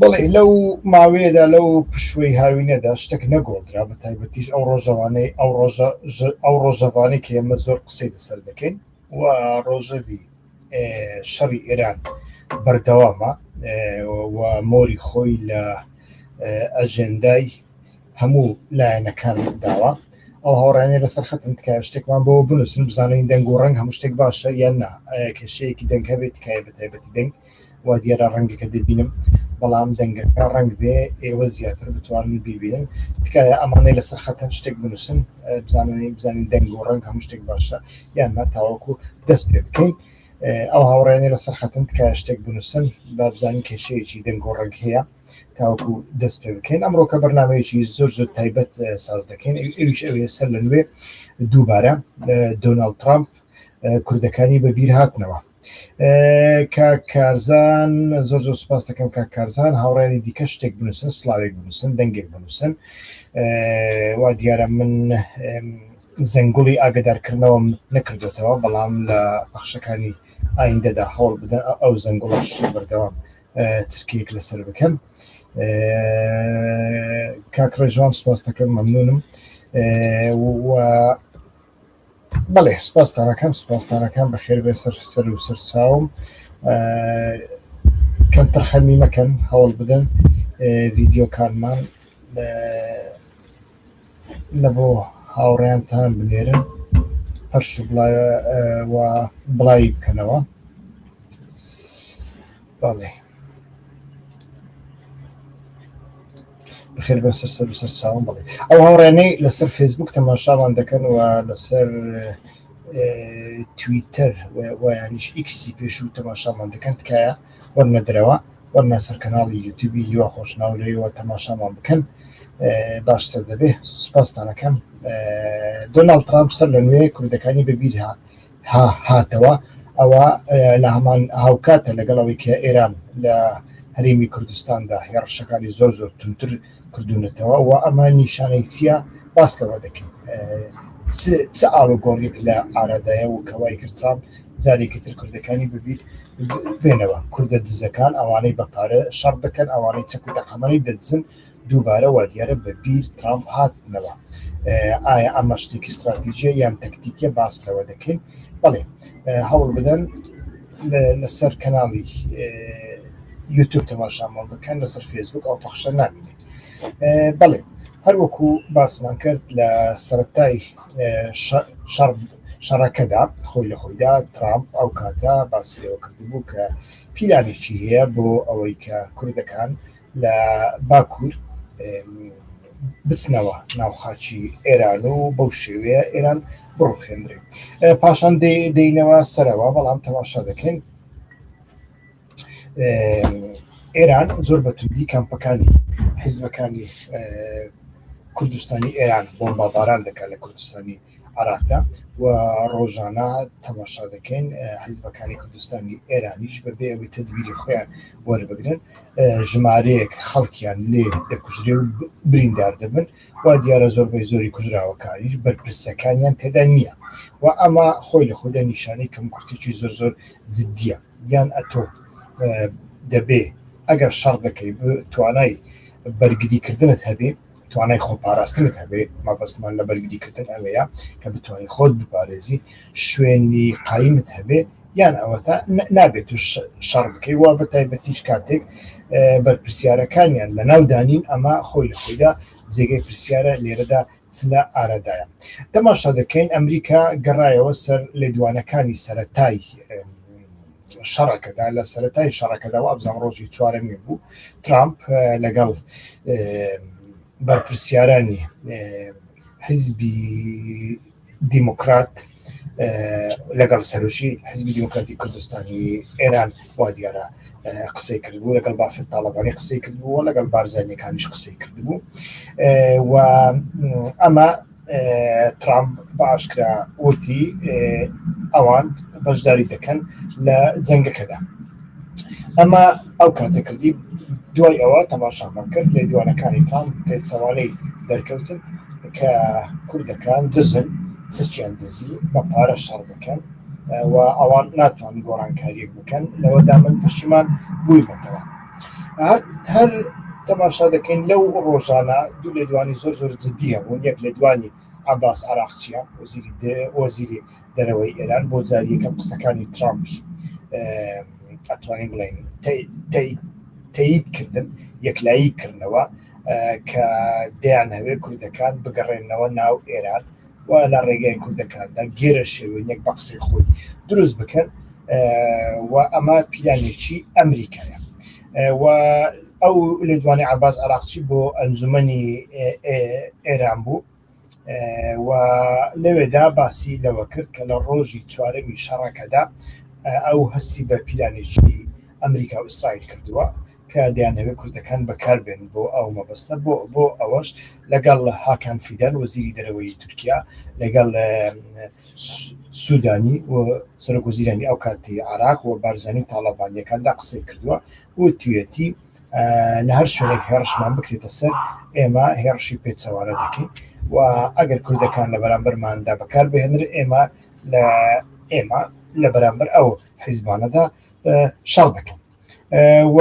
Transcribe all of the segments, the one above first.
بەڵێ لەو ماوەیەدا لەو پشوەی هاوینەدا شتێک نەگۆڕدرا بە تایبەتیش ئەو ڕۆژەوانەی ئەو ڕۆژە ئەو ڕۆژەوانەی کە ئێمە زۆر قسەی لەسەر دەکەین و ڕۆژەوی شەڕی ئێران بەردەوامە و مۆری خۆی لە ئەژێندای هەموو لایەنەکان داوە ئەو هاوڕێنێ لەسەر خەتن تکایە شتێکمان بۆ بنووسن بزانین دەنگ و ڕەنگ هەموو شتێک باشە یان نا کێشەیەکی دەنگ هەبێت تکایە بەتایبەتی دەنگ وا دیارە ڕەنگەکە دەبینم بەڵام دەنگەکە ڕەنگ بێ ئێوە زیاتر بتوانن بیبینن تکایە ئەمانەی لەسەر خەتەن شتێک بنووسن بزانانی بزانین دەنگ و ڕەنگ هەموو شتێک باشە یاننا تاوەکو دەست پێ بکەین ئەو هاوڕێنێ لەسەر خەتن تکایە شتێک بنووسن با بزانین کێشەیەکی دەنگ و ڕەنگ هەیە تاوەکو دەست پێ بکەین ئەمڕۆکە بەرنمەیەکی زۆر زۆر تایبەت ساز دەکەین ئەویش ئەوێ سەر لە نوێ دووبارە دۆناڵد ترامپ کوردەکانی بەبییر هاتنەوە کا کارزان زۆر زۆر سپاس دەکەم کا کارزان هاوڕێنی دیکە شتێک بنووسن سلااوێک بنووسن دەنگێک بنووسن وا دیارە من زەنگوڵی ئاگدارکردنەوەم نەکردوێتەوە بەڵام لە بەخشەکانی ئایندەدا هەوڵ بدەن ئەو زەنگوڵش بەردەوام چرکەیەک لەسەر بکەن کاکڕێژوان سپاس دەکەم مەمنونم و بەڵێ سوپاستان ئەکەم سوپاستان ئەکەم بەخێر بێ سەر سەر و سەر چاوم کەم تەرخەمی مەکەن هەوڵ بدەن ڤیددیوکانمان لە بۆ هاوڕێیانتان بنێرن پەرش بڵایە بڵاوی بکەنەوە بەڵێ بەخێر بێن سەر سەر و سەر چاوم بڵێ ئەو هاوڕێنەی لەسەر فێسبوک تەماشامان دەکەن و لەسەر تویتەر ویانیش ئیکسی پێش و تەماشامان دەکەن تکایە وەرنە درەوە وەرنا سەر کەناڵی یوتیوبی هیوا خۆشناولەوە تەماشامان بکەن باشتر دەبێ سپاستانەکەم دۆناڵ ترامپ سەر لە نوێ کوردەکانی بەبییرها ها هاتەوە ئەوە لە هەمان هاوکاتە لەگەڵ ئەوەی کە ئێران لە هەرێمی کوردستاندا هێڕشەکانی زۆر زۆر تونتر کردوونەتەوە و ئەمە نیشانەی چییە باس لەوە دەکەین چ ئاڵوگۆڕێک لە ئارادایە و کەوای کردران جارێکی تر کوردەکانی ببییر بێنەوە کوردە دزەکان ئەوانەی بە پارە شەڕ دەکەن ئەوانەی چەک و دەقەمەی دەدزن دووبارە وادیارە بە بیر ترامپ هاتنەوە. ئایا ئەمە شتێکی ستراتیجیە یان تەکتیکیە باس لەوە دەکەین بەڵێ هەوڵ بدەن لەسەر کەناڵی یوتوب تەماشامان بکەن لەسەر فێسبوک ئەو پەخشە نامینێت بەڵێ هەروەکو باسمان کرد لە سەرەتای شەڕ شەڕەکەدا خۆی لە خۆیدا ترامپ ئەو کاتە باسیەوە کردبوو کە پیلانێکی هەیە بۆ ئەوەی کە کوردەکان لە باکوور بچنەوە ناو خاچی ئێران و بەو شێوەیە ئێران بڕوخێنرێت پاشان دێینەوە سەرەوە بەڵام تەماشا دەکەین ئێران زۆر بەتوندی کەمپەکانی حیزبەکانی کوردستانی ئێران بۆمباباران دەکات لە کوردستانی عێراقدا و ڕۆژانە تەماشا دەکەین حیزبەکانی کوردستانی ئێرانیش بەبێ ئەوەی تدبیری خۆیان وەربگرن ژمارەیەک خەڵکیان لێ دەکوژرێ و بریندار دەبن و دیارە زۆربەی زۆری کوژراوەکانیش بەرپرسەکانیان تێدا نییە و ئەمە خۆی لە خۆدا نیشانەی کەم کورتێکی زۆر زۆر جددیە یان ئەتۆ دەبێ ئەگەر شەڕ دەکەی توانای بەرگریکردنت هەبێ توانای خۆپاراستنت هەبێ مەبەستمان لە بەرگریکردن ئەوەیە کە بتانی خۆت بپارێزی شوێنی قایمت هەبێ یان ئەوەتا نابێت تو شەڕ بکەی وا بە تایبەتیش کاتێک بەرپسیارەکانیان لە ناو دانین ئەمە خۆی لە خۆیدا جێگەی پرسیارە لێرەدا چلە ئارادایە تەماشا دەکەین ئەمریکا گەڕایەوە سەر لێدوانەکانی سەتای شەڕەکەدا لە سەتای شەڕەکەدا و ئەبزان ڕۆژی چوارەمی بوو ترامپ لەگەڵ بەرپرسیارانی حزبی دیموکرات لەگەڵ سەرژی حزبی دیموکراتی کوردستانی ئێران وا دیارە قسەی کردبوو لەگەڵ بافت تاڵەبانی قسەی کردبوو لەگەڵ بارزانەکانیش قسەی کردبوو و ئەمە ترامپ بە ئاشکرا وتی ئەوان بەشداری دەکەن لە جەنگەکەدا. ئەمە ئەو کاتە کردی دوای ئەوە تەماشامان کرد لێدوانەکانی ترامپ پێچەوانەی دەرکەوتن کە کوردەکان دزن، چەکیان دزی، بە پارە شەڕ دەکەن و ئەوان ناتوانن گۆڕانکارییەک بکەن، لەوەدا من پەشیمان بوویمەتەوە. هەر هەر تەماشا دەکەین لەو ڕۆژانە دوو لێدوانی زۆر زۆر جددی هەبوون یەک لێدوانی عباس عراقچیە وەزیری دە- وەزیری دەرەوەی ئێران بۆ جاری یەکەم قسەکانی ترامپی ئە، ئەتوانین بڵێین تەی- تەی- تەیید کردن یەکلایی کردنەوە ئە، کە دەیانەوێت کوردەکان بگەڕێنەوە ناو ئێران و لە ڕێگای کوردەکاندا گێرەشێوێنێک بە قسەی خۆی دروست بکەن و ئەمە پیلانێکی ئەمریکایە و ئەو لێدوانی عباس عراقچی بۆ ئەنجومنی ئێران بوو و لەوێدا باسی لەوە کرد کە لە ڕۆژی چوارەمی شەڕەکەدا ئەو هەستی بە پیلانێکی ئەمریکا و ئیسرائیل کردووە کە دەیانهەوێت کوردەکان بەکار بێنن بۆ ئەو مەبەستە، بۆ ئەوەش لەگەڵ هاکان فیدان وەزیری دەرەوەی تورکیا، لەگەڵ سودانی و سەرۆکوەزیرانی ئەو کاتی عێراق و بارزانی و تاڵەبانییەکاندا قسەی کردووە، وتویەتی لە هەر شوێنێک هێڕشمان بکرێتە سەر ئێمە هێڕشی پێچەوانە دەکەین و ئەگەر کوردەکان لە بەرامبەرماندا بەکار بهێنرێت ئێمە لە ئێمە لە بەرامبەر ئەو حیزبانەدا شەڕ دەکەین. و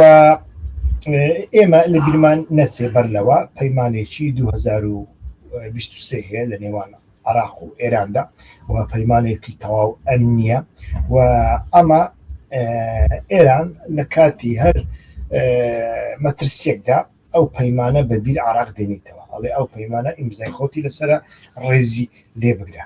ئێمە لە بیرمان نەچێ بەر لەوە پەیمانێکی 2023 هەیە لە نێوان عراق و ئێراندا و پەیمانێکی تەواو ئەم نییە و ئەمە ئێران لە کاتی هەر مەترسیەکدا ئەو پەیمانە بەبییر عراق دێنیتەوە ئەڵێ ئەو پەیمانە ئیمزای خۆتی لەسرە ڕێزی لێ بگرە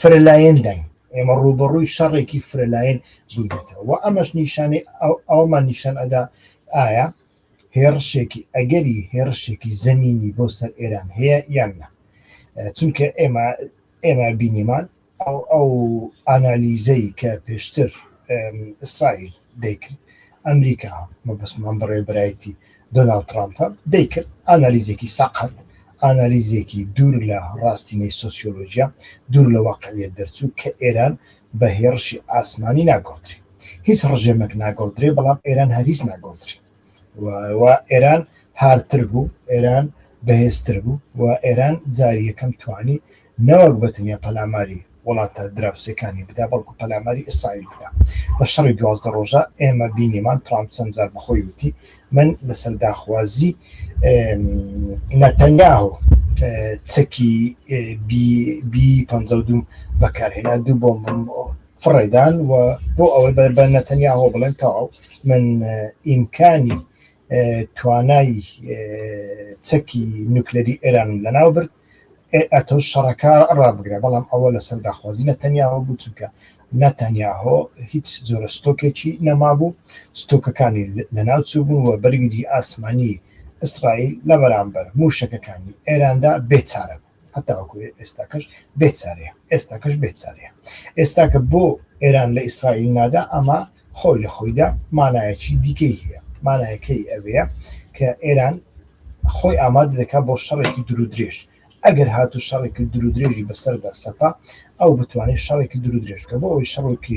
فرەلایەنداین، ئێمە ڕووبەڕووی شەڕێکی فرەلایەن بووینەتەوە و ئەمەش نیشانەی ئەوەمان نیشان ئەدا ئایا هێڕشێکی ئەگەری هێڕشێکی زەمینی بۆ سەر ئێران هەیە یان نا، چونکە ئێمە ئێمە بینیمان ئەو ئەو ئانالیزەی کە پێشتر ئیسرائیل دەیکرد ئەمریکا مەبەستمان بەڕێوەبەرایەتی دۆناڵد ترامپە دەیکرد ئانالیزێکی سەقەت ئانالیزێکی دوور لە ڕاستینەی سۆسیۆلۆژیا دوور لە واقعیت دەرچوو کە ئێران بە هێڕشی ئاسمانی ناگۆڕدرێ هیچ ڕژێمێک ناگۆڕدرێ بەڵام ئێران هەریز ناگۆڕدرێ و ئێران هارتر بوو ئێران بەهێزتر بوو و ئێران جاری یەکەم توانی نەوەک بە تەنیا پەلاماری وڵاتە دراوسێکانی بدا، بەڵکو پەلاماری ئیسرائیل بدا. لە شەڕی دوازدە ڕۆژە ئێمە بینیمان ترامپ چەند جار بە خۆی وتی من لەسەر داخوازی نەتەنیاهۆ چەکی بی پەنجا و دوو بەکارهێنا دوو بۆمبم فڕێدان و بۆ ئەوەی بە بە نەتەنیاهۆ بڵێن تەواو من ئیمکانی توانای چەکی نوکلەری ئێرانم لەناو برد ئەتۆ شەڕەکە ڕابگرە بەڵام ئەوە لەسەر داخوازی نە تەنیاوە بوو چونکە نە تەنیاهۆ هیچ جۆرە ستۆکێکی نەمابوو ستۆکەکانی لەناوچوو بوون و بەرگری ئاسمانی ئیسرائیل لە بەرامبەر موشەکەکانی ئێراندا بێچارە بوو هەتاوەکو ئێستاکەش بێچارەیە ئێستاکەش بێچارەیە ئێستاکە بۆ ئێران لە ئیسرائیل نادا ئەمە خۆی لە خۆیدا مانایەکی دیکەی هەیە، مانایەکەی ئەوەیە کە ئێران خۆی ئامادە دەکات بۆ شەڕێکی دوورودرێژ، ئەگەر هاتوو شەڕێکی دوورودرێژی بەسەردا سەپا، ئەو بتوانێت شەڕێکی دوورودرێژ بکات، بۆ ئەوەی شەڕێکی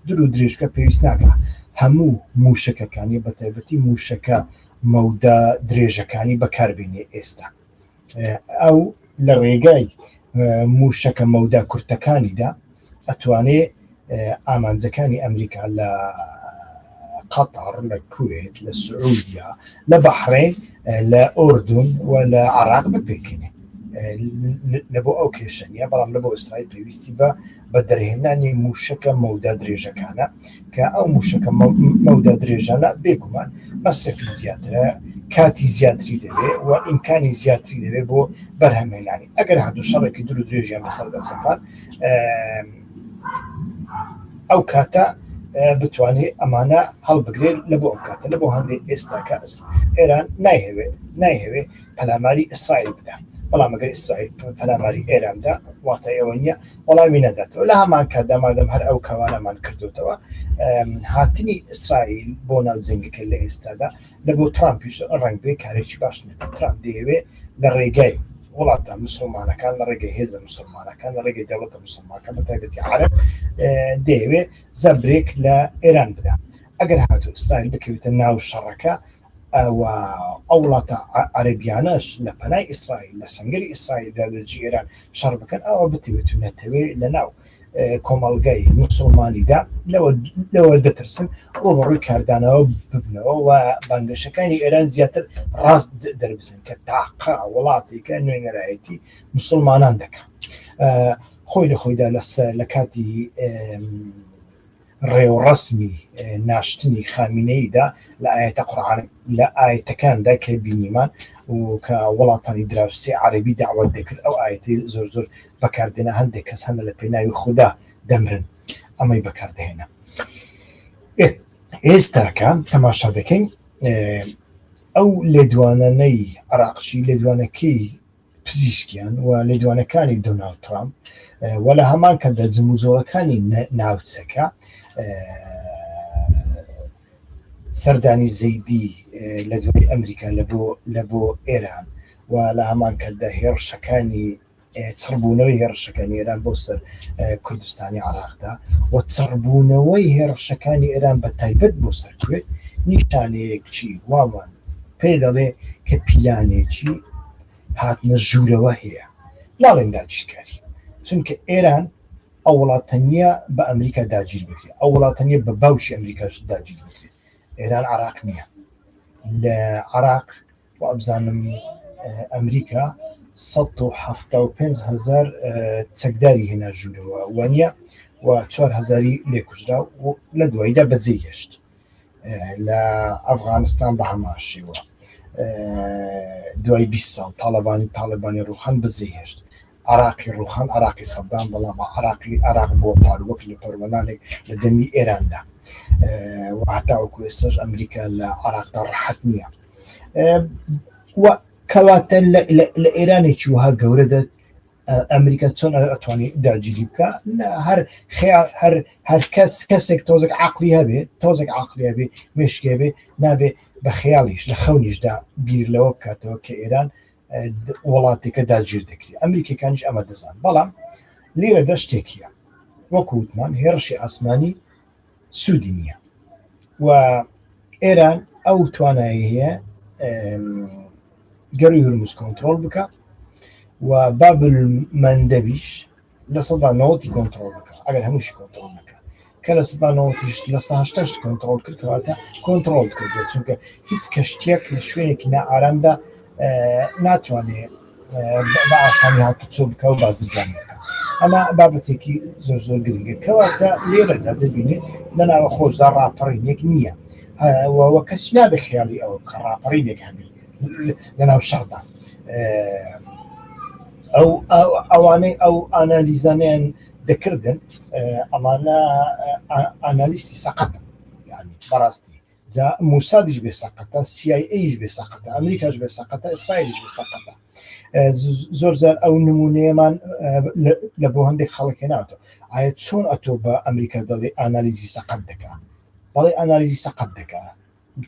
دوورودرێژ بکات پێویست ناکات هەموو مووشەکەکانی بەتایبەتی مووشەکە مەودا درێژەکانی بەکاربێنێت، ئێستا. ئەو لە ڕێگای موشەکە مەودا کورتەکانیدا ئەتوانێ ئامانجەکانی ئەمریکا لە قەتەڕ لە کوێت لە سعودیا لە بەحرێن لە ئۆردون و لە عراق بپێکێنێ لە بۆ ئەو کێشەنیە بەڵام لە بۆ ئیسرائیل پێویستی بە بە دەرهێنانی مووشەکە مەودا درێژەکانە کە ئەو مووشەکە مەودا درێژانە بێگومان مەسرفی زیاترە کاتی زیاتری دەبێت و ئیمکانی زیاتری دەبێت بۆ بەرهەمێنانی ئەگەر هاتو شەڕێکی دور و درێژیان بەسەردا سەپان ئەو کاتە بتوانێت ئەمانە هەڵبگرێت لە بۆ ئەو کاتە لە بۆ هەندێک ئێستاکە ئێران نایهوێت نایهوێت پەلاماری ئیسرائیل بدا بەڵام ئەگەر ئیسرائیل پەلاماری ئێراندا واتای ئەوە نییە وەڵامی نەداتەوە لە هەمان کاتدا مادەم هەر ئەو کاوانەمان کردوتەوە هاتنی ئیسرائیل بۆ ناو جنگەکە لە ئێستادا لە بۆ ترامپیش ڕنگ بێ کارێکی باش نەبێت ترامپ دەیەوێ لە ڕێگای وڵاتە مسلمانەکان لە ڕێگەی هێزە مسلمانەکان لە ڕێگەی دەوڵەتە مسلمانەکە بە تایبەتی عرب دەیەوێ زەبرێک لە ئێران بدا ئەگەر هاتو ئیسرائیل بکەوێتە ناو شەڕەکە ئەوە ئەو وڵاتە عەربیانەش لە پەنای ئیسرائیل لە سنگری ئیسرائیل لە لەجی ئێران شەڕ بکەن ئەوە بتوێت و نەتەوێ لە ناو کۆمەڵگای مسلمانیدا لەوە دەترسن ڕۆبڕووی کاردانەوە ببنەوە و بانگەشەکانی ئێران زیاتر ڕاست دەربزن کە تاقا وڵاتێکە نوێنەرایەتی مسلمانان دەکات خۆی لە خۆیدا لەسەر لە کاتی ڕێوڕەسمی ناشتنی خامینەیدا لە ئاەتە قڕان لە ئاەتەکاندا کە بینیمان و کە وڵاتانی دراوسی عربی داوات دەکرد ئەو ئاەتی زۆر زۆر بەکاردێنە هەندێک کەس هەندە لە پێناوی خوددا دەمرن ئەمەی بەکاردەهێنە ئێستاکە تەماشا دەکەین ئەو لێدوانانەی عراقچی لێدوانەکەی پزیشکیان و لێدوانەکانی دۆناڵد ترامپ و لە هەمان کەدا جموجۆڵەکانی ناوچەکە سەردانی زەیدی لە دوای ئەمریکا لە بۆ ئێران و لە هەمان کەدا هێڕشەکانی چڕبوونەوەی هێڕشەکانی ئێران بۆ سەر کوردستانی عراقدا و چڕبوونەوەی هێڕشەکانی ئێران بە تایبەت بۆ سەرکوێت نیشانەیەکچی وامان پێ دەڵێ کە پیلانێکی هاتنە ژوورەوە هەیە لاڵێن داگیرکاری چونکە ئێران ئەو وڵاتەنە بە ئەمریکا داگیر بکرێت ئەو وڵاتەنە بە باوشی ئەمریکاش داگیر بکرێت ئێران عراق نییە لە عراق و ئەبزانم ئەمریکا 5هزار چەکداری هێنا ژوورەوە وانە و 4هزاری لێکوژرا لە دواییدا بەجێ هێشت لە ئەفغانستان بە هەمان شێوە دوای بیست ساڵ تاڵەبانی تاڵەبانی ڕوخان بزەی هێشت عراقی ڕوخان عراقی سەددام بەڵام عراقی عراق بۆ پار وەک لە پەروەنانێک لە دەمی ئێراندا و هەتاوەکو ئێستاش ئەمریکا لە عراقدا ڕحەت نییە و کەواتە لە ئێرانێکی وها گەورە دەت ئەمریکا چۆن ئەتوانی داگیری بکە هەر هەر هەر کەس کەسێک تۆزێک عقلی هەبێ تۆزێک عقلی بێ مشکێ بێ نابێ بە خەیاڵیش لە خەونیشدا بیر لەوە بکاتەوە کە ئێران وڵاتێکە داگیر دەکری ئەمریکەکانیش ئەمە دەزان بەڵام لێرە دەشتێکیە وەکووتمان هێرشی ئاسمانی سوودی نییە و ئێران ئەو توانایی هەیە گەڕی هورمز کۆنتترۆل بکە و بابل مندەبیش لە سەدا نەوەتی کۆنتترۆل بکە ئەگەر هەمووشی کۆنتترۆل بکە کە لە سەدا نەوەتیش لە ساشتەش کۆنتترۆل کردکەواتە کۆنتترۆل کردو چونکە هیچ کەشتێک لە شوێنێکی نائارامدا ناتوانێت بە ئاسانی هاتوچۆ بکە و بازرگانی بکە ئەمە بابەتێکی زۆر زۆر گرنگە کەواتە لێرەدا دەبینێت لە ناوە خۆشدا ڕاپەڕینێک نییە وە کەس نابێ خیاڵی ئەو کە ڕاپەڕینێک هەبی لە ناو شەڕدا ئەو ئەوانەی ئەو ئانالیزانیان دەکردن ئەمانە ئانالیستی سەقەت بەڕاستی جا موسادیش بێ سەقەتە سیای ئەیش بێ سەقەتە ئەمریکاش بێ سەقەتە ئیسرائیلیش بێ سەقەتە زۆر زار ئەو نمونەیەمان لە بۆ هەندێک خەڵک هێناوتە ئایا چۆن ئەتۆ بە ئەمریکا دەڵێ ئانالیزی سەقەت دەکا بەڵێ ئەنالیزی سەقەت دەکا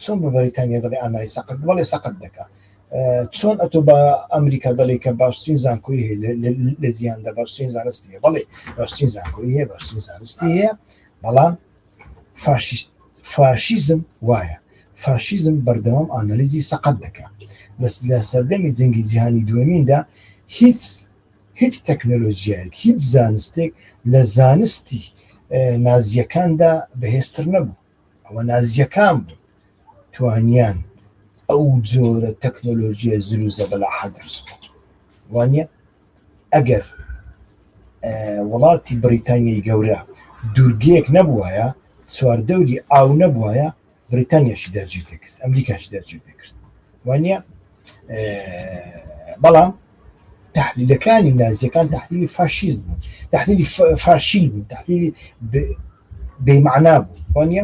چۆن بە بەریتانیا دەڵێ ئەنای سەقەت بەڵێ سەقەت دەکا چۆن ئەتۆ بە ئەمریکا دەڵێ کە باشترین زانکۆی هەیە لە جیاندا باشترین زانستی بەڵێ باشترین زانکۆی هەیە باشترین زانستی هەیە بەڵام فاشیست فاشیزم وایە فاشیزم بەردەوام ئانالیزی سەقەت دەکا بەس لە سەردەمی جەنگی جیهانی دووەمیندا هیچ هیچ تەکنەلۆژیایەک هیچ زانستێک لە زانستی نازیەکاندا بەهێستر نەبوو ئەوە نازیەکان بوو توانیان ئەو جۆرە تەکنۆلۆژیە زروزە بەلا حەدرس وانە ئەگەر وڵاتی بریتانیای گەورە دوورگەیەک نەبوایە چواردەوری ئاو نەبوایە بریتانیاشی داگیر دەکرد ئەمریکاشی داگیر دەکرد وانە بەڵام تحلیلەکانی نازیەکان تحلیلی فاشیست بوون تحلیلی فاشیل بوون تحلیلی بێمەعنا بوو وانە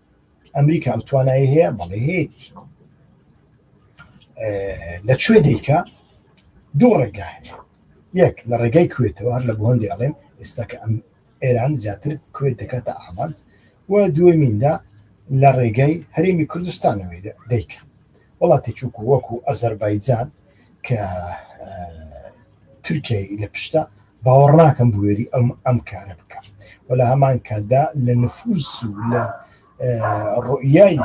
ئەمریکا ئەو توانایی هەیە بەڵێ هەیەتی لە کوێ دیکە دوو ڕێگا هەیە یەک لە ڕێگای کوێتەوە هەر لە بۆ هەندێک ئەڵێن ئێستا کە ئەم ئێران زیاتر کوێت دەکاتە ئامانج و دوێمیندا لە ڕێگای هەرێمی کوردستانەوەی دیکە وڵاتی چووکو وەکو ئەزەربایجان کە تورکیای لە پشتە باوەڕ ناکەم بوێری ئەم ئەم کارە بکەم و لە هەمان کاتدا لە نفوس و لە ڕوئای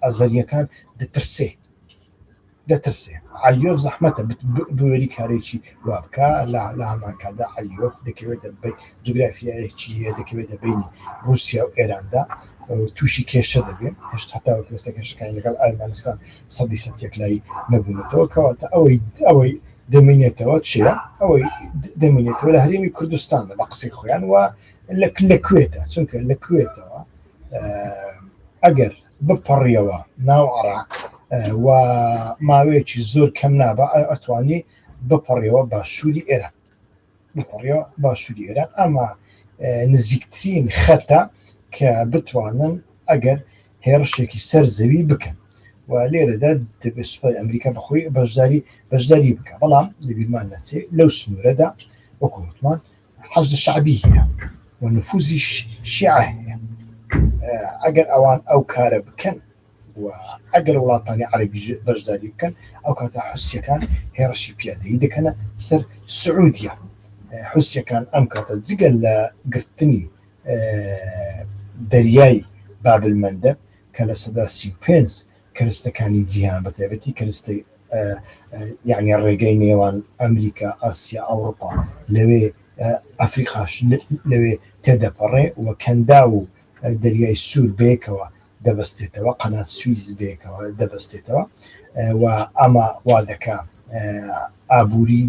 ئەزەریەکان دەترسێ دەترسێ علیۆف زەحمەتە بوێری کارێکی وابکە لە هەمان کاتدا علیۆف دەکەوێتە جوگرافیایەکی هەیە دەکەوێتە بەینی ڕووسیا و ئێراندا تووشی کێشە دەبێت هێشت هەتا وەکوێستە کێشەکانی لەگەڵ ئەرمەنستان سەدی سەد یەکلایی نەبوونەتەوە کەواتە ئەوەی ئەوەی دەمینێتەوە چیە ئەوەی دەمینێتەوە لە هەرێمی کوردستانە بە قسەی خۆیان وە لە لە کوێتە چونکە لە کوێتەوە ئەگەر بپەڕیەوە ناو عراق و ماوەیەکی زۆر کەم نابە ئەتوانی بپەڕیەوە باشووری ئێران بەڕێوە باشووری عێراق ئەمە نزیکترین خەتە کە بتوانن ئەگەر هێڕشێکی سەر زەوی بکەن و لێرەدا دەبێت سوپای ئەمریکا بەخۆی بەشداری بەشداری بکە بەڵام لەبیرمان نەچێ لەو سنوورەدا وەکووتمان حەز شعبی هەیە و نفوزی شیع هەیە ئەگەر ئەوان ئەو کارە بکەن و ئەگەر وڵاتانی عەرەبیش بەشداری بکەن ئەو کاتە حوسیەکان هێڕشی پیادەیی دەکەنە سەر سعودیە حوسیەکان ئەم کاتە جگە لە گرتنی دەریای بابل مەندەب کە لە سەدا سی و پێنج کەرستەکانی جیهان بە تایبەتی کەرستی یعنی ڕێگەی نێوان ئەمریکا ئاسیا ئەوروپا لەوێ ئەفریقاش لەوێ تێدەپەڕێ و کەندا و دەریای سوور بەیەکەوە دەبەستێتەوە، قەنات سویز بەیەکەوە دەبەستێتەوە و ئەمە وا دەکا ئابووری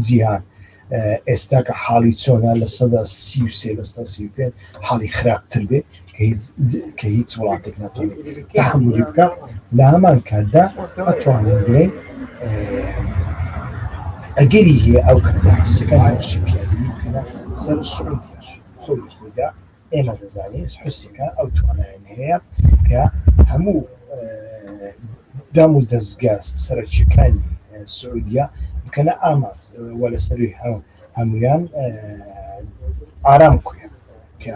جیهان ئێستا کە حاڵی چۆنە لە سەدا سی و سێ لەستا سی پێ حاڵی خراپتر بێ کە هیچ وڵاتێک ناتوانێت تحملی بکە لە هەمان کاتدا ئەتوانین بڵێن ئەگەری هەیە ئەو کاتە حوسەکان هەرشی پیادی بکەنە سەر سعودیش خۆی خۆدا ئێمە دەزانین حوسیکە ئەو توانایان هەیە کە هەموو دام و دەستگا سەرەکیەکانی سعودیە بکەنە ئاماز وە لە سەروی هەمویان ئارام کوێ کە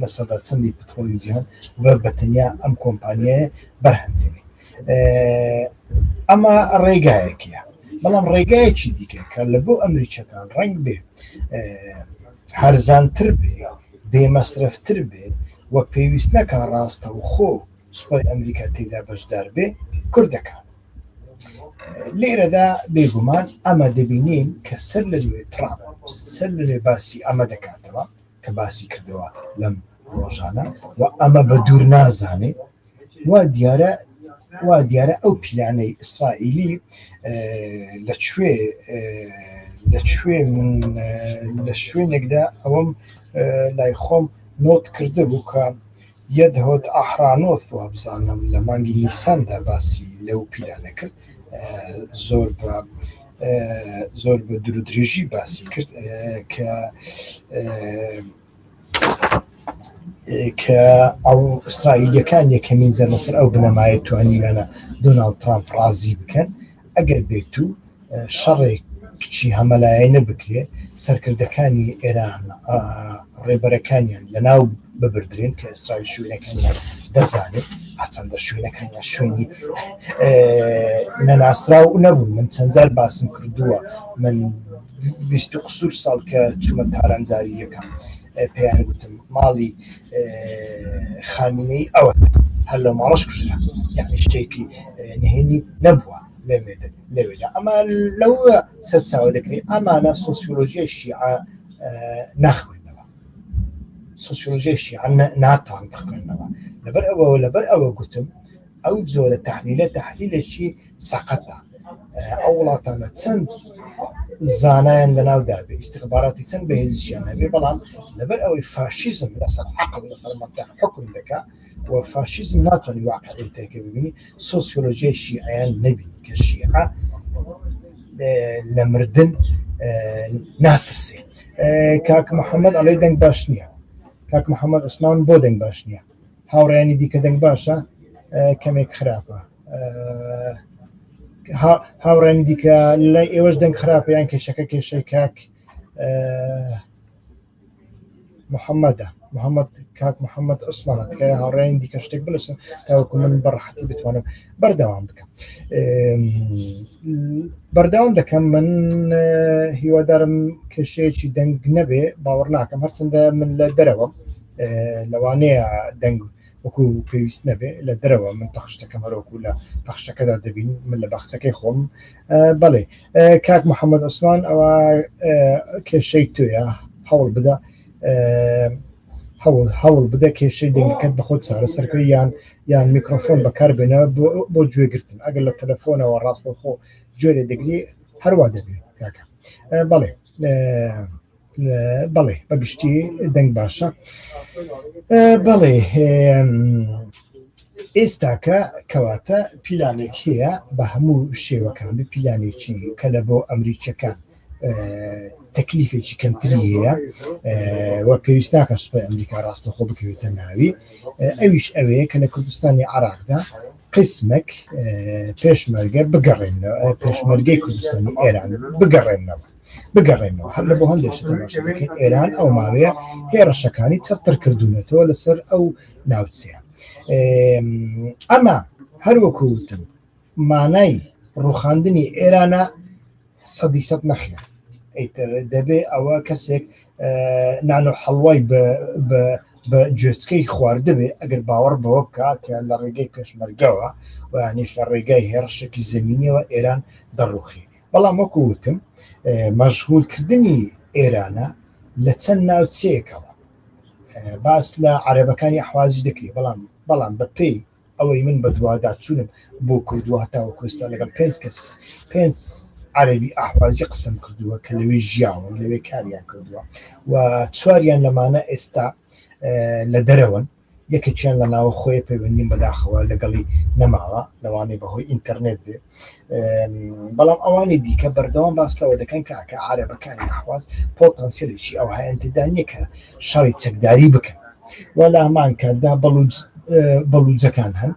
لە سەدا چەندی پتۆلی جیهان بە بەتەنیا ئەم کۆمپانیایە بەرهەمدێنێ ئەمە ڕێگایەکە بەڵام ڕێگایەکی دیکە کە لە بۆ ئەمریکیەکان ڕنگ بێ هەرزانتر بێ، بێ مەسرەفتر بێ و پێویست نەکا ڕاستەوخۆ سوپای ئەمریکا تێیدا بەشدار بێ، کورت دەکات. لێرەدا بێگومان ئەمە دەبینین کە سەر لە نوێ تڕامپ سەر لە نوێ باسی ئەمە دەکاتەوە کە باسی کردەوە لەم ڕۆژانە و ئەمە بە دوور نازانێ وا دیارە وا دیارە ئەو پیلانەی ئیسرائیلی لە کوێ لە کوێ من لە شوێنێکدا ئەوەم لای خۆم نۆت کردە بوو کە یەدهۆت ئاحرانۆس وا بزانم لە مانگی نیساندا باسی لەو پیلانە کرد زۆر بە زۆر بە درودرێژی باسی کرد کە کە ئەو ئیسرائیلەکان یەکەمین زەر لەسەر ئەو بنەمایە توانیویانە دۆناالد ترامپ ڕازی بکەن ئەگەر بێت و شەڕێک کچی هەمەلایەنە بکرێ سەرکردەکانی ئێران ڕێبەرەکانیان لەناو ببدرێن کە ئیسرائیل شوێنەکانیان دەزانێت هەچەندە شوێنەکانیان شوێنی نەناسراو نەبوون من چەندجار باسم کردووە من بیست و قسور ساڵ کە چوومە تاران جاری یەکەم پێیان گوتم ماڵی خامینەی ئەوە هەر لە ماڵش کوژرا یعنی شتێکی نهێنی نەبووە لەمێدن لەوێدا ئەمە لەو سەرچاوە دەکرێت ئەمانە سۆسیۆلۆژیای شیعە ناخوێنەوە سۆسیۆلۆژیای شیعە ناتوان بخوێنەوە لەبەر ئەوە لەبەر ئەوە گوتم ئەو جۆرە تحلیلە تحلیلێکی سەقەتە ئەو وڵاتانە چەند زانایان لە ناودا بێ ئیسیخباراتی چەند بەهێزیشیان هەبێ بەڵام لەبەر ئەوەی فاشیزم لەسەر عقل لەسەر مەتە حکم دەکا و فاشیزم ناتوانانی واقعی تێکە ببینی سۆسیۆلۆژیای شیعیان نەبینی کە شیعە لە مردن ناترسێ کاک محەممەد ئەڵێ دەنگ باش نییە کاک محەممەد عوسمان بۆ دەنگ باش نییە هاوڕێیانی دیکە دەنگ باشە کەمێک خراپە هاوڕێنی دیکە لای ئێوەش دەنگ خراپیان کێشەکە کێشەی کاک محەممەدە محەممەد کاک محەممەد عوسمانە تکای هاوڕێن دیکە شتێک بنووسن تاوەکو من بەڕحەتی بتوانم بەردەوام بکە بەردەوام دەکەم من هیوادارم کێشەیەکی دەنگ نەبێ باوەڕ ناکەم هەرچنددە من لە دەرەوە لەوانەیە دەنگ وەکو پێویست نەبێ لە دەرەوە من پەخشتەکەم هەرۆکو لە پەخشەکەدا دەبین من لە بەخچەکەی خۆم بەڵێ کاک محەممەد عوسمان ئەوە کێشەی توێە هەوڵ بدە هەوڵ هەوڵ بدە کێشەی دەنگەکەت بە خۆت چارەسەرکەی یان یان میکرۆفۆن بەکاربێنەوە بۆ گوێگرتن ئەگەر لە تەلەفۆنەوە ڕاستەخۆ گوێرە دەگری هەروە دەبێت کاکە بەڵێ بەڵێ بە گشتی دەنگ باشە بەڵێ ئێستاکە کەواتە پیلانێک هەیە بە هەموو شێوەکان پیلانێکی کە لە بۆ ئەمریکیەکان تەکلیفێکی کەمتری هەیە و پێویست ناکە سوپای ئەمریکا ڕاستە خۆ بکەوێتە ناوی ئەویش ئەوەیە کە لە کوردستانی عراقدا قسمەک پێشمەرگە بگەڕێنەوە پێشمەرگەی کوردستانی ئێران بگەڕێنەوە بگەڕێنەوە هەر لەبۆ هەندێک شت تەماشا دەکەین ئێران ئەو ماوەیە هێڕشەکانی چڕتر کردوونەتەوە لەسەر ئەو ناوچەیە ئەمە هەروەکو وتم مانای ڕوخاندنی ئێرانە سەدی سەد نەخێن ئەیتر دەبێ ئەوە کەسێک نانۆ حەڵوای بە جوێچکەی خواردبێ ئەگەر باوەڕ بەوە بکە کە لە ڕێگەی پێشمەرگەوە وانیش لە ڕێگای هێڕشێکی زمینیەوە ئێران دەڕوخی بەڵام وەکو وتم مەشغولکردنی ئێرانە لە چەند ناوچەیەکەوە باس لە عربەکانی ئەحوازی دەکری بەڵام بەڵام بە پێی ئەوەی من بە دوادا چوونم بۆ کردووە هەتاوە کوستا لەگەڵ پێنج کەس پێنج عربی ئاحوازی قسم کردووە کە لەوێ ژیاون لەوێ کاریان کردووە و چواریان لەمانە ئێستا لە دەرەوەن یەکێکیان لە ناوەخۆیە پەیوەندیم بەداخەوە لەگەڵی نەماوە لەوانەیە بەهۆی ئینتەرنێت بێ بەڵام ئەوانی دیکە بەردەوام باس لەوە دەکەن کاکە عارەبەکانی ئەحواز پۆتەنسیلێکی ئەو هەیەتدا نییە کە شەڕی چەکداری بکەن وە لە هەمان کاتدا بەڵوجەکان هەن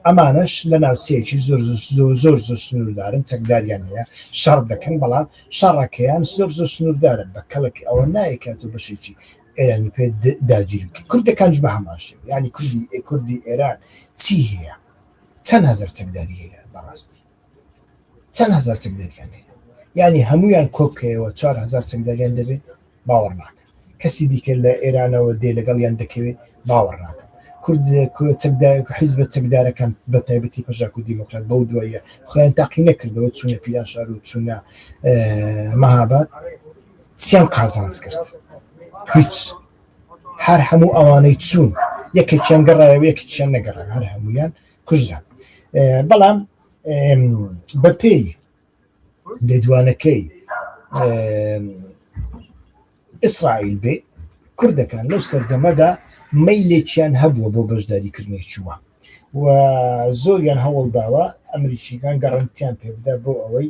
ئەمانش لە ناوچەیەکی زۆر زۆر زۆر زۆر سنووردارن چەکداریان هەیە شەڕ دەکەن بەڵام شەڕەکەیان زۆر زۆر سنووردارن بە کەڵک ئەوە نایکات و بەشێکی ئێرانی پێ داگیری کرد کوردەکانش بە هەمان شێوە یعنی کوردی کوردی ئێران چی هەیە چەند هەزار چەکداری هەیە بەڕاستی چەند هەزار چەکداریان هەیە یعنی هەمویان کۆبکەیەوە 4هزار چەکداریان دەبێت باوەڕ ناکە کەسی دیکە لە ئێرانەوە دێ لەگەڵیان دەکەوێت باوەڕ ناکە کورد چەکدایەک حیز بە چەکدارەکان بە تایبەتی پەژاک و دیموکرات بەو دوایە خۆیان تاقی نەکردەوە چونە پیران شار و چونە مەهابات چیان قازانج کرد هیچ هەر هەموو ئەوانەی چوون یەکێکیان گەڕایە و یەکێکیان نەگەڕە هەر هەمویان کوژران بەڵام بەپێی لێدوانەکەی ئیسرائیل بێ کوردەکان لەو سەردەمەدا مەیلێکیان هەبووە بۆ بەشداریکردنی چووە و زۆریان هەوڵداوە ئەمریکییەکان گەڕەنتییان پێ بدات بۆ ئەوەی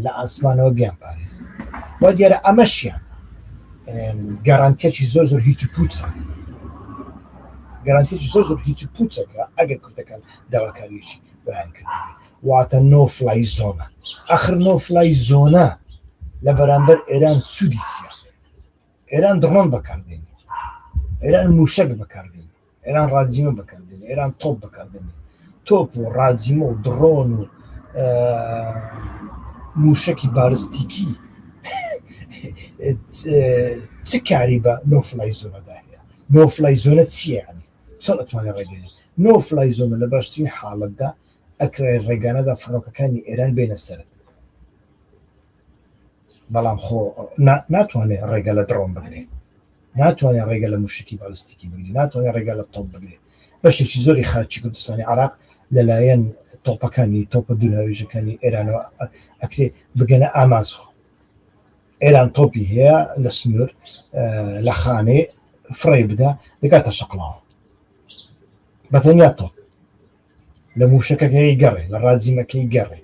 لە ئاسمانەوە بیانپارێزن وا دیارە ئەمەشیان گەڕانتێکی زۆر زۆر هیچ پوچە گەرانتێکی زۆر زۆر هیچ پوچەکە ئەگەر کوردەکان داواکاریشی بەیان کرد واتە نۆفلای زۆنە ئەخر نۆفلای زۆنە لە بەرامبەر ئێران سوودیسیە ئێران دڕۆن بەکاردێنێت ئێران موشک بەکاردێنێت ئێران ڕاجیمە بەکردن ئێران تۆپ بەکردن تۆپ و ڕاجیمە و دڕۆن و موشکی بالستیکی چ کاری بە نۆفلای زۆنەدا هەیە نۆفلای زۆنە چییە چۆن ئەتوانێت ڕێگەێ نۆفلای زۆنە لە باشترین حاڵەتدا ئەکرای ڕێگانەدا فڕۆکەکانی ئێران بێنە سرد بەڵام خۆ ناتوانێت ڕێگە لە دڕۆن بگرێت ناتوانێت ڕێگە لە مووشەکی بالیستیکی بگرێت، ناتوانێت ڕێگە لە تۆپ بگرێت، بەشێکی زۆری خاکی کوردستانی عێراق لەلایەن تۆپەکانی تۆپە دوورهاوێژەکانی ئێرانەوە ئەکرێت بگەنە ئامانجخۆ ئێران تۆپی هەیە لە سنوور لە خانێ فڕێ بدا دەگاتە شەقڵاوە بەتەنیا تۆپ لە مووشەکەکەی گەڕێ لە ڕاجیمەکەی گەڕێ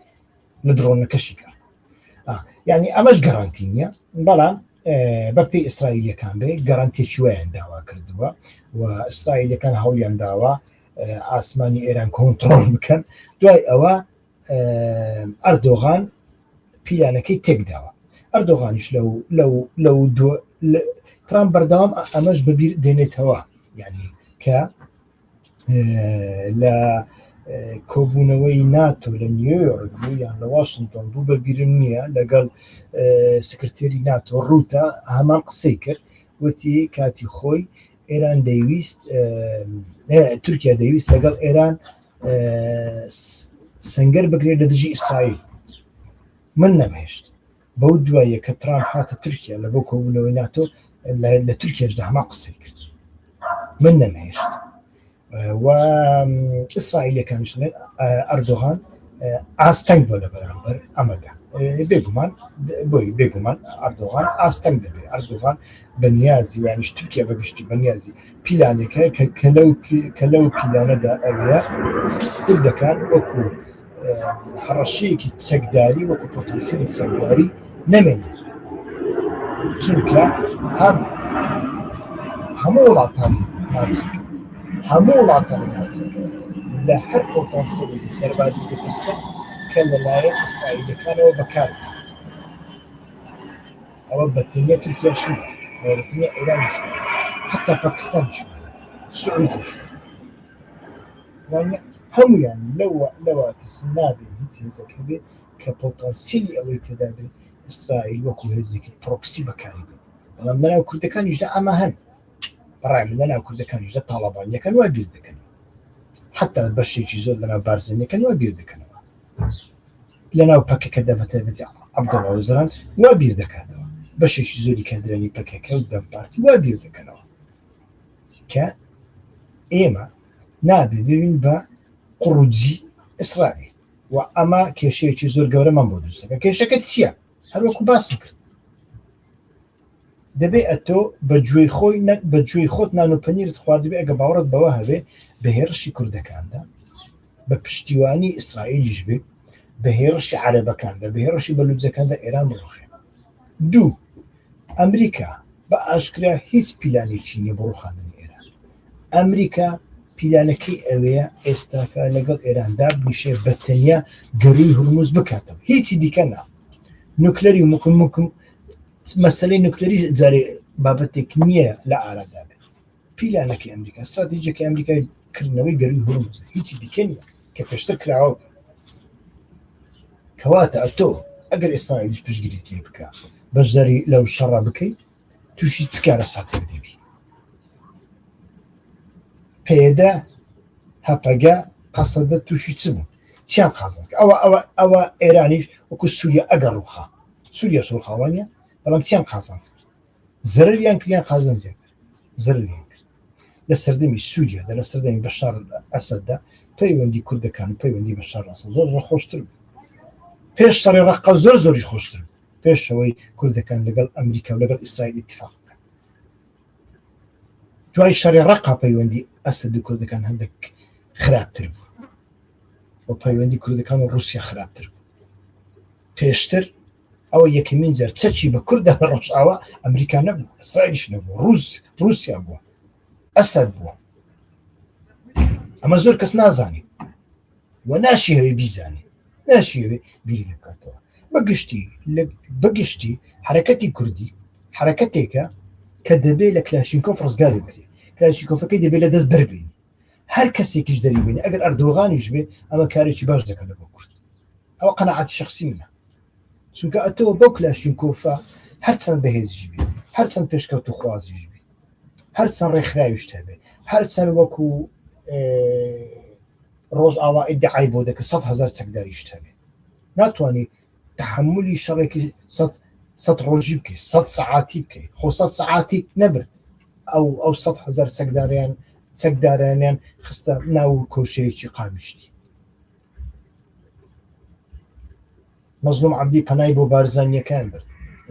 مدرۆنەکەشیکە یعنی ئەمەش گەڕانتی نییە بەڵام بە پێی ئیسرائیلەکان بێ گەڕانتێکی وایان داوا کردووە و ئیسرائیلەکان هەوڵیان داوە ئاسمانی ئێران کۆنتترۆل بکەن دوای ئەوە ئەردۆغان پیلانەکەی تێکداوە ئەردۆغانیش لەو لەو لەو ترام بەردەوام ئەمەش ببیر دێنێتەوە یعنی کە لە کۆبوونەوەی ناتۆ لە نیویۆرک بوو یان لە واشنتۆن بوو بە بیرم نییە لەگەڵ سکرتێری ناتۆ ڕووتە هەمان قسەی کرد وتی کاتی خۆی ئێران دەیویست تورکیا دەیویست لەگەڵ ئێران سنگەر بگرێت لە دژی ئیسرائیل من نەمهێشت بەو دواییە کە ترامپ هاتە تورکیا لە بۆ کۆبوونەوەی ناتۆ لە تورکیاشدا هەما قسەی کرد من نەمهێشت و ئیسرائیلەکانش ئەردۆغان ئاستەنگ بۆ لە بەرامبەر ئەمەدا بێگومان بۆی بێگومان ئەردۆغان ئاستەنگ دەبێت ئەردۆغان بەنیازی وانیش تورکیا بەگشتی بەنیازی پیلانەکە کە کە لەو کە لەو پیلانەدا ئەوەیە کوردەکان وەکو هەڕەشەیەکی چەکداری وەکو پۆتەنسیلی چەکداری نەمێنێت چونکە هەم هەموو وڵاتان ناوچەکە هەموو وڵاتان ناوچەکە لە هەر پۆتەنسیلێکی سەربازی دەترسە کە لەلایەن ئیسرائیلەکانەوە بەکار ئەوە بەتەنیا تورکیاش بەتەنیا ئێرانش حتا پاکستانش سعودیش وانیە هەموویان لەوە لەوە ترسن نابێ هیچ هێزێک هەبێ کە پۆتانسیلی ئەوەی تێدا بێ ئیسرائیل وەکو هێزێکی پرۆکسی بەکاری بێ بەڵام لەناو کوردەکانیشدا ئەمە هەن بەڕای من لەناو کوردەکانیشدا تاڵەبانیەکان وا بیر دەکەن حتا بەشێکی زۆر لەناو بارزانیەکان وا بیر دەکەنەوە لەناو پەکەکەدا بە تایبەتی عەبدوڵڵا ئۆجەلان وا بیر دەکاتەوە بەشێکی زۆری کادرانی پەکەکە و دەم پارتی وا بیر دەکەنەوە کە ئێمە نابێ ببین بە قڕوجی ئیسرائیل و ئەمە کێشەیەکی زۆر گەورەمان بۆ دروستەکە کێشەکە چییە هەروەکو باسم کرد دەبێ ئەتۆ بە گوێی خۆی بە گوێی خۆت نان و پەنیرت خواردبێ ئەگە باوەڕت بەوە هەبێ بە هێرشی کوردەکاندا بە پشتیوانی ئیسرائیلیش بێ بە هێڕشی عەرەبەکان بە بهێڕشی بە لوجەکاندا ئێران بڕوخێ دوو ئەمریکا بە ئاشکرا هیچ پیلانێکی نیە بۆ ڕوخاندنی ئێران ئەمریکا پیلانەکەی ئەوەیە ئێستاکە لەگەڵ ئێران دابنیشێ بە تەنیا گەروی هەرمز بکاتەوە هیچی دیکە نا نوکلەری مکم مکم مەسلەی نوکلەری جارێ بابەتێک نییە لە ئارادا پیلانەکەی ئەمریکا ستراتیژەکەی ئەمریکای کردنەوەی گەروی هورمز هیچی دیکە نیە کە پێشتر کراوە کەواتە ئەتۆ ئەگەر ئێستایش پشگیریت لێ بکە بەشداری لەو شەڕە بکەیت تووشی چکارە ساتێک دەبی پێدە هەپەگە قەسەدە تووشی چ بوو چیان قازانس ئەوە ئەوە ئەوە ئێرانیش وەکو سووریا ئەگەر ڕوخا سووریاش ڕوخاوانە بەڵام چیان قازانس زەرریان کریان قازانزیان زەرەریان کرد لە سەردەمی سووریادا لە سەردەمی بەشار ئەسەددا پەیوەندی کوردەکان و پەیوەندی بە شارڕاستە زۆر زۆر خۆشتر بوو پێش شەڕی ڕقە زۆر زۆری خۆشتر بوو پێشەوەی کوردەکان لەگەڵ ئەمریکا و لەگەڵ ئیسرائیل اتفاق بکەن دوای شەڕی ڕقا پەیوەندی ئەسەد و کوردەکان هەندێک خراپتر بوو و پەیوەندی کوردەکان و رووسیا خراپتر بوو پێشتر ئەوە یەکەمین جار چەکی بە کوردە لە ڕۆژاوا ئەمریکا نەبوو ئەسرائیلش نەبوو ڕوس رووسیا بووە ئەسەر بووە ئەمە زۆر کەس نازانێت و ناشی هەوێ بیزانێت ناشی هەوێ بیری لە بکاتەوە بەگشتی بەگشتی حرەکەتی کوردی حرەکەتێکە کە دەبێت لە کلاشینکۆف ڕزگاری بکرێت کلاشیکۆفەکەی دەبێت لە دەست دەربین هەر کەسێکیش دەری بێنێ ئەگەر ئەردۆغانیش بێ ئەمە کارێکی باش دەکەن لە بۆ کورد ئەوە قەنەعاتی شخصی منە چونکە ئەتەوە بەو کلاشین کۆفە هەرچەند بەهێزیش بێ هەرچەند پێشکەوت و خوازیش بێ هەرچەند ڕێکخراویش هەبێ هەرچەند وەکو ڕۆژ ئاوا ئیدعای بۆ دەکە سە هزار چەکداریش هەبێ ناتوانانی تەحەمولی شەڕێکی سەد سەد ڕۆژی بکەی سەد سەعاتی بکەی خۆ سەد سەعاتی نەبرد ئەو ئەو سەد هەزار چەکداریان چەکدارانیان خستە ناو کۆشەیەکی قامیشتی مەزلوم عبدی پەنای بۆ بارزانیەکان برد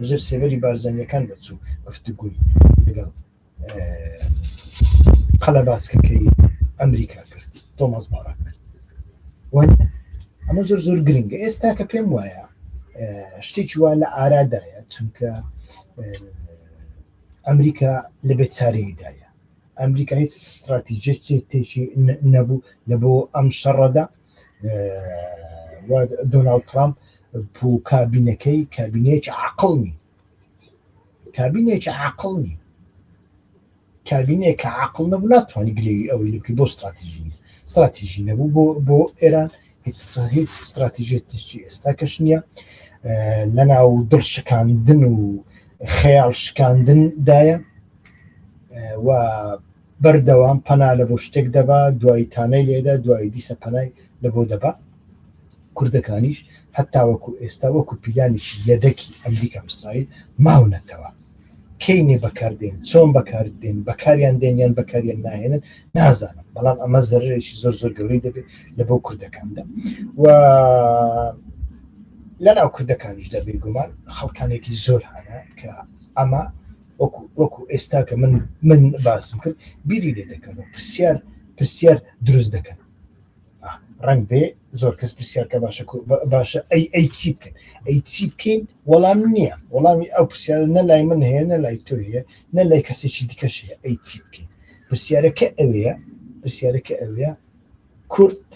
ژر سێبەری بارزانیەکان دەچوو گفتگوی لەگەڵ قەلەباسکەکەی ئەمریکا کرد تۆمەز باراک ئەمە زۆر زۆر گرنگە ئێستا کە پێم وایە شتێکی وا لە ئارادایە چونکە ئەمریکا لە بێت چارەیدایە ئەمریکا هیچ استراتیژێکی تێکی نەبوو لە بۆ ئەم شەڕەدا دۆناالد ترامپ پوو کابینەکەی کابینێکی عقلنی کابینێکی عاقڵ نی کابینێکە عقل نەبوو ناتوانانی گلەی ئەوەی لەکە بۆ استراتیژی استراتیژی نەبوو بۆ بۆ ئێران هیچ هیچ استراتیژێتیی ئێستا کەش نییە لە ناو دڵ شکاندن و خەیاڵ شکاندن دایە و بەردەوام پەنا لە بۆ شتێک دەبا دوایی تانەی لێدا دوایی دیسە پەنای لە بۆ دەبا کوردەکانیش هەتا وەکو ئێستا وەکو پیلانێکی یەدەکی ئەمریکا ئیسرائیل ماونەتەوە کەینێ بەکاردێن چۆن بەکاردێن بەکاریان دێنیان بەکاریان ناهێنن نازانم بەڵام ئەمە زەرێکی زۆر زۆر گەورەی دەبێت لە بۆ کوردەکاندا و لە ناو کوردەکانیش دەبێ گومان خەڵکانێکی زۆر هەیە کە ئەمە وەکو وەکو ئێستا کە من من باسم کرد بیری لێ دەکەن و پرسیار پرسیار دروست دەکەن ڕنگ بێ زۆر کەس پرسیارکە باشە باشە ئەی ئەی چی بکەن ئەی چی بکەین وەڵام نییە وەڵامی ئەو پرسیارە نە لای من هەیە نە لای تۆ هەیە نە لای کەسێکی دیکەش هەیە ئەی چی بکەین پرسیارەکە ئەوەیە پرسیارەکە ئەوەیە کورد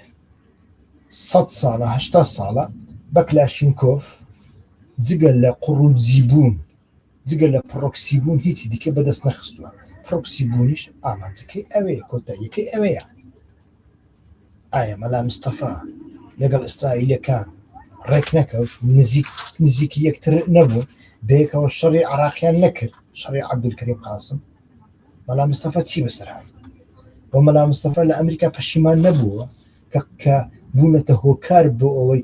سە ساڵە هشتا ساڵە بەکلاشینکۆف جگە لە قڕوجی بوون جگە لە پرۆکسی بوون هیچی دیکە بەدەست نەخستووە پرۆکسی بوونیش ئامانجەکەی ئەوەیە کۆتاییەکەی ئەوەیە ئایا مەلا مستەفا لەگەڵ ئیسرائیلەکان ڕێک نەکەوت نزیک نزیکی یەکتر نەبوو بەیەکەوە شەڕی عراقیان نەکرد شەڕی عبدولکریم قاسم مەلا مستەفا چی بەسەر هاات بۆ مەلا مستەفا لە ئەمریکا پەشیمان نەبووە کە کە بوونەتە هۆکار بۆ ئەوەی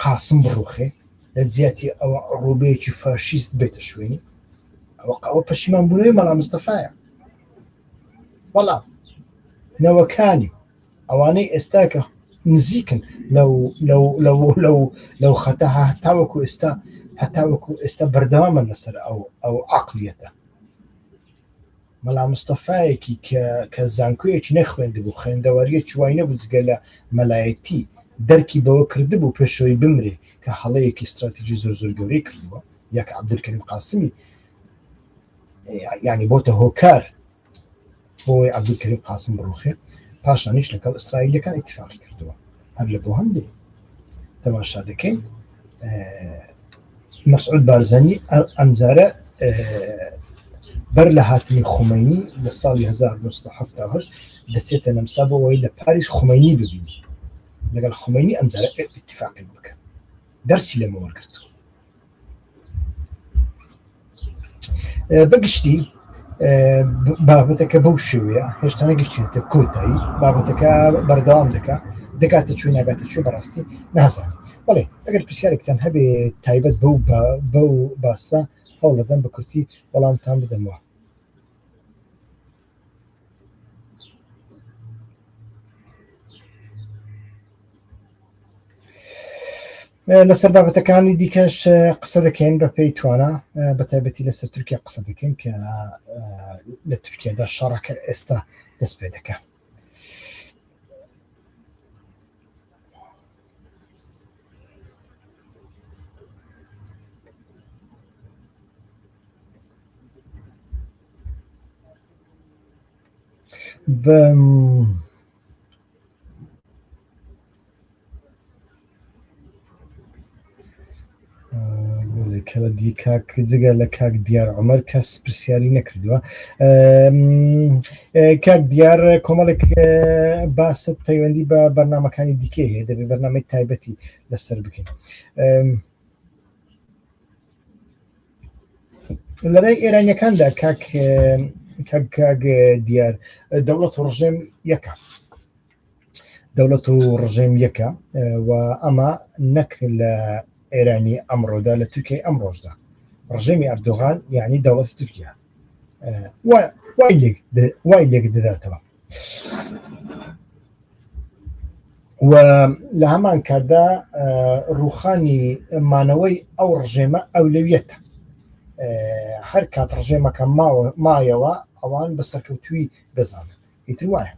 قاسم بڕوخێ لە جیاتی ئەوە ڕوبەیەکی فاشیست بێتە شوێنی ئەوە قەوە پەشیمان بوونەوەی مەلا مستەفاە بەڵام نەوەکانی ئەوانەی ئێستا کە نزیکن لەو خەتە هەتاوەکو ئێستا هەتاوەکو ئێستا بەردەوامە لەسەر ئەو ئەو عقلیەتە مەلا مستەفایەکی کە کە زانکۆیەکی نەخوێندبوو خوێندەواریەکی وای نەبوو جگە لە مەلایەتی دەرکی بەوە کردبوو پێشەوەی بمرێ کە هەڵەیەکی استراتیژی زۆر زۆر گەورەی کردووە یەک عبدکریم قاسمی یعنی بۆتە هۆکار بۆی عبدکریم قاسم بڕوخێ پاشانیش لەگەڵ ئیسرائیلەکان اتفاقی کردووە هەر لە بۆ هەندێک تەماشا دەکەین مەسعود بارزانانی ئەمجارە بەر لە هاتنی خومەنی لە ساڵی 1970 دەچێتە نەمسا بۆەوەی لە پاریس خومەنی ببین لەگەڵ خومەنی ئەمجارە اتفاقی بکە دەرسی لەمە وەرگتووە بەگشتی بابەتەکە بەو شێوەیە هێشتانە گشتێتە کۆتایی بابەتەکە بەردەوام دەکا دەکاتە چوی ناگاتە چێ بەڕاستی نازانانی بڵێ ئەگەر پرسیارێکتان هەبێ تایبەت بەو بەو باسە هەوڵەدەم بە کورتی وەڵامتان بدەمەوە لەسەر بابەتەکانی دیکەش قسە دەکەین بە پێی توانە بە تایبەتی لەسەر تورکیا قسە دەکەین کە لە تورکیادا شەڕەکە ئێستا دەست پێ دەکە کەلە دی کاک جگە لە کاک دیار عمر کەس پرسیاری نەکردووە کاک دیار کۆمەڵێک باست پەیوەندی بە بەرنمەکانی دیکە هەیە دەبێت بەرنمەی تایبەتی لەسەر بکەین لەلای ئێرانیەکاندا کاک کاک دیار دەوڵەت و ڕژێم یەکە دەوڵەت و ڕژێم یەکە و ئەمە نەک لە ئێرانی ئەمڕۆدا لە تورکیای ئەم ڕۆژدا ڕژێمی ئەردۆغان یعنی دەوڵەتی تورکیا وای لێک دەداتەوە و لە هەمان کاتدا ڕوخانی مانەوەی ئەو ڕژێمە ئەولەویەتە هەر کات ڕژێمەکە ماوە مایەوە ئەوان بە سەرکەوتوی دەزانن ئیتر وایە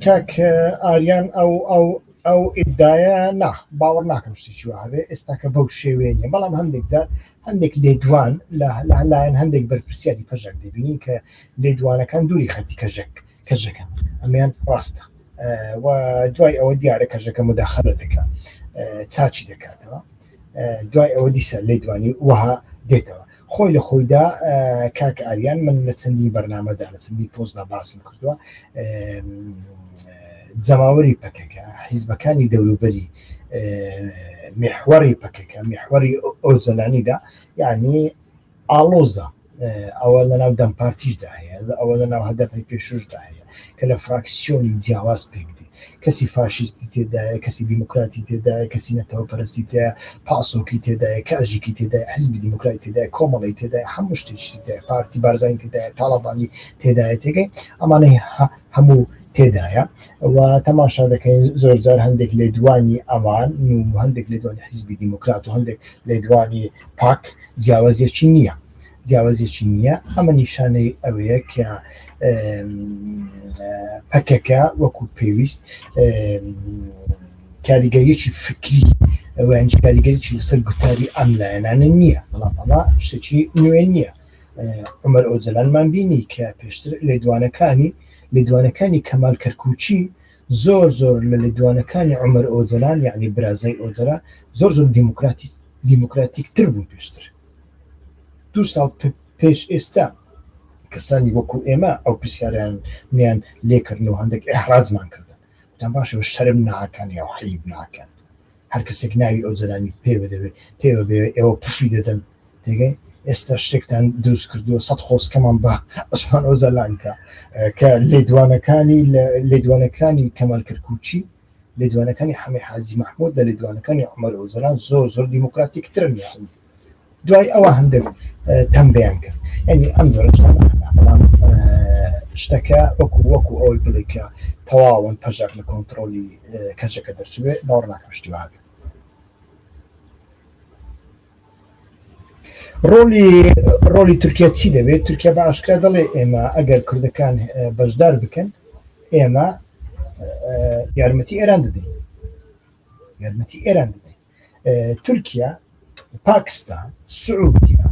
کاک ئاریان ئەو ئەو ئەو ئیددایە نا باوەڕ ناکەم شتێکی وابێ ئێستاکە بەو شێوێ نیە بەڵام هەندێک جار هەندێک لێدوان لە لایەن هەندێک بەرپرسیاری پەژەک دەبینین کە لێدوانەکان دووری خەتی کەژەک کەژەکە ئەمیان ڕاستە و دوای ئەوە دیارە کەژەکە مداخلە دەکە چاچی دەکاتەوە دوای ئەوە دیسە لێ دوانی وەها دێتەوە خۆی لە خۆیدا کاک ئاریان من لە چەندی بەرنمەدا لە چەندی پۆستدا باسم کردووە جەماوەری پەکەکە حیزبەکانی دەوروبەری محوەری پەکەکە محوەری ئەو زەلانیدا یعنی ئاڵۆزە، ئەوە لەناو دەم پارتیشدا هەیە، ئەوە لەناو هەدەپەی پێشووشدا هەیە کە لە فراکسیۆنی جیاواز پێکدێ، کەسی فاشیستی تێدایە، کەسی دیموکراتی تێدایە، کەسی نەتەوەپەرستی تێدایە، پاسۆکی تێدایە، کاژیکی تێدایە، حیزبی دیموکراتی تێدایە، کۆمەڵەی تێدایە، هەموو شتێکی تێدایە، پارتی بارزانی تێدایە، تاڵەبانی تێدایە، تێگەی ئەمانەی هەموو تێدایە و تەماشا دەکەین زۆرجار هەندێک لێدوانی ئەوان و هەندێک لێدوانی حیزبی دیموکرات و هەندێک لێدوانی پاک جیاوازێکی نییە جیاوازێکی نییە ئەمە نیشانەی ئەوەیە کە پەکەکە وەکو پێویست کاریگەریەکی فکری ئەویان کاریگەریی لەسەر گوتاری ئەم لایەنانە نییە بەڵام ئەڵا شتێکی نوێ نییە عمر ئۆجلانمان بینی کە پێشتر لێدوانەکانی لێدوانەکانی کەمال کەرکوچی زۆر زۆر لە لێدوانەکانی عومەر ئۆجەلان یانی برازای ئۆجەلان زۆر زۆر دیموکراتی دیموکراتیک تر بوون پێشتر دو ساڵ پێش ئێستا کەسانی وەکو ئێمە ئەو پرسیاریان نیان لێکردن و هەندێک ئەحراجمان کردن دەم باشەوە شەرم ناکەن یا حیب ناکەن هەر کەسێک ناوی ئەو جەلانی پێوە دەوێ پێوە بێ ئێوە پفی دەدەن تێگەی ئێستا شتێکتان دروست کردووە سەد خۆزکەمان بە عوسمان ئۆجەلانکە کە لێدوانەکانی لە لێدوانەکانی کەمال کرکوچی لێدوانەکانی حەمەی حاجی محمود لە لێدوانەکانی عمر ئۆجەلان زۆر زۆر دیموکراتیک ترن یاخود دوای ئەوە هەندێک تەمبیان کرد ینی ئەم جۆرەڵام شتەکە وەکو وەکو ئەوەی بڵێکە تەواون پەژاک لە کۆنتترۆلی کەچەکە دەرچێ باوەڕ ناکەم شتی وابێ ڕۆلی ڕۆلی تورکیا چی دەبێت تورکیا بە ئاشکرا دەڵێ ئێمە ئەگەر کوردەکان بەشدار بکەن ئێمە یارمەتی ئێران دەدەین یارمەتی ئێران دەدەین تورکیا پاکستان سعودیا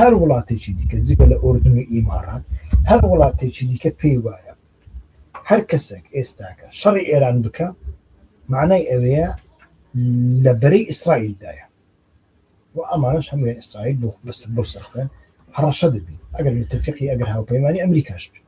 هەر وڵاتێکی دیکە جگە لە ئۆردن و ئیمارات هەر وڵاتێکی دیکە پێی وایە هەر کەسێک ئێستاکە شەڕی ئێران بکە معنای ئەوەیە لە بەرەی ئیسرائیلدایە و ئەمانش هەموویان ئیسرائیل بۆ بەسەر بۆ سەرخوێن هەڕەشە دەبین ئەگەر متفقی ئەگەر هاوپەیمانی ئەمریکاش بین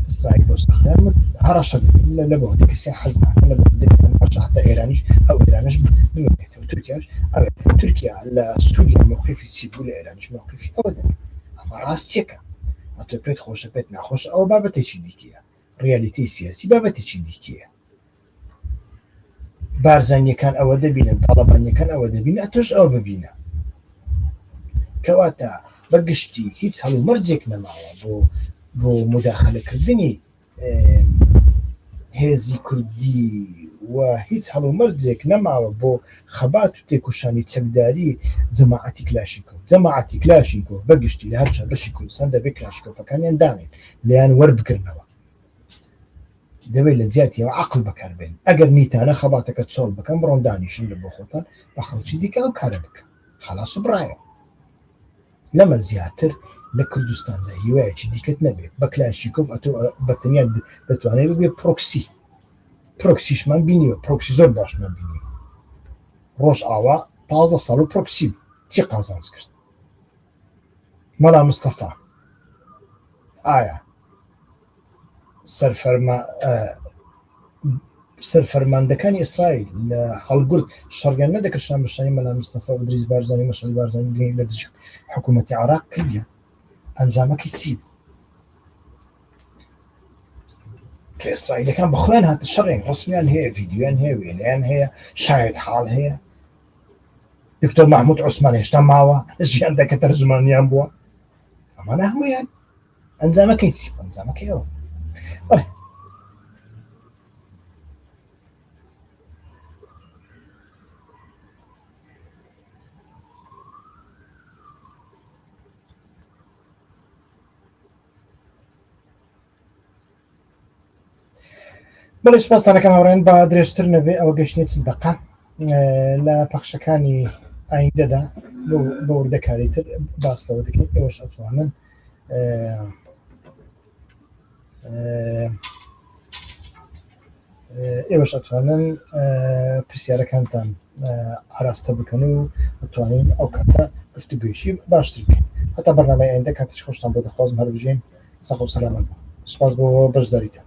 ئیسرائیل بۆ سەخیان من هەڕەشە دەکەم لە لە بەوەی کەسیان حەز ناکەن لە بەوەی دەکەن هەرچە حتا ئێرانیش ئەو ئێرانیش بمێنێتەوە تورکیاش ئەوێ تورکیا لە سووریا موقیفی چی بوو لە ئێرانیش موقیفی ئەوە دەکەن ئەمە ڕاستیەکە ئەتۆ پێت خۆشە پێت ناخۆش ئەوە بابەتێکی دیکەیە ڕیالیتی سیاسی بابەتێکی دیکەیە بارزانیەکان ئەوە دەبینن تاڵەبانیەکان ئەوە دەبین ئەتۆش ئەوە ببینە کەواتە بە گشتی هیچ هەڵو مەرجێک نەماوە بۆ بۆ مداخلەکردنی هێزی کوردی و هیچ هەڵو مەرجێک نەماوە بۆ خەبات و تێکوشانی چەکداری جەماعەتی کلاشیکۆ جەماعەتی کلاشیکۆ بەگشتی لە هەرچە بەشی کوردستان دەبێت کلاشکۆفەکانیان دانێن لیان وەربگرنەوە دەبێت لە جیاتی ئەوە عەقڵ بەکاربێنن ئەگەر نیتانە خەباتەکە چۆڵ بکەن بڕۆن دانیشن لە بۆ خۆتان بە خەڵکی دیکە ئەو کارە بکەن خەڵاس و بڕایەوە لەمە زیاتر لە کوردستاندا هیوایەکی دیکەت نەبێت بە کلاشیکۆف ئەتۆ بە تەنیا دەتوانێت ببێت پرۆکسی پرۆکسیشمان بینیوە پرۆکسی زۆر باشمان بینی ڕۆژ ئاوا پازە ساڵ و پرۆکسی چی قازانج کرد مەلا مستەفا ئایا سەرفەرماندەکانی ئیسرائیل لە هەڵگورد شەڕیان نەدەکرد شانبەشانی مەلا مستەفا و ئیدریس بارزانی و مەسعود بارزانی گرنگ لە دژی حکوومەتی عێراق کردیان ئەنجامەکەی چی بوو کە ئیسرائیلەکان بەخۆیان هاتە شەڕێن ڕسمیان هەیە ڤیددیویان هەیە وێنەیان هەیە شاید حاڵ هەیە دکتۆر محمود عوسمان هێشتا ماوە ژیان دەکە تەرجمانیان بووە ئەمانە هەمویان ئەنجامەکەی چی ئەنجامەکەی ئەوە بەڵێ سپاستانەکەم هاوڕێن با درێژتر نەبێ ئەوە گەشتێت چل دقا لە پەخشەکانی ئایندەدا بە وردەکاری تر باس لەوە دەکەین ئێوەش ئەتوانن ئێوەش ئەتوانن پرسیارەکانتان ئاراستە بکەن و ئەتوانین ئەو کاتە گفتوگوێشی باشتر بکەین هەتا بەرنامەی ئایندە کاتیش خۆشتان بۆ دەخوازم هەربژین سەخ و سەلامەت سپاس بۆ بەشداریتان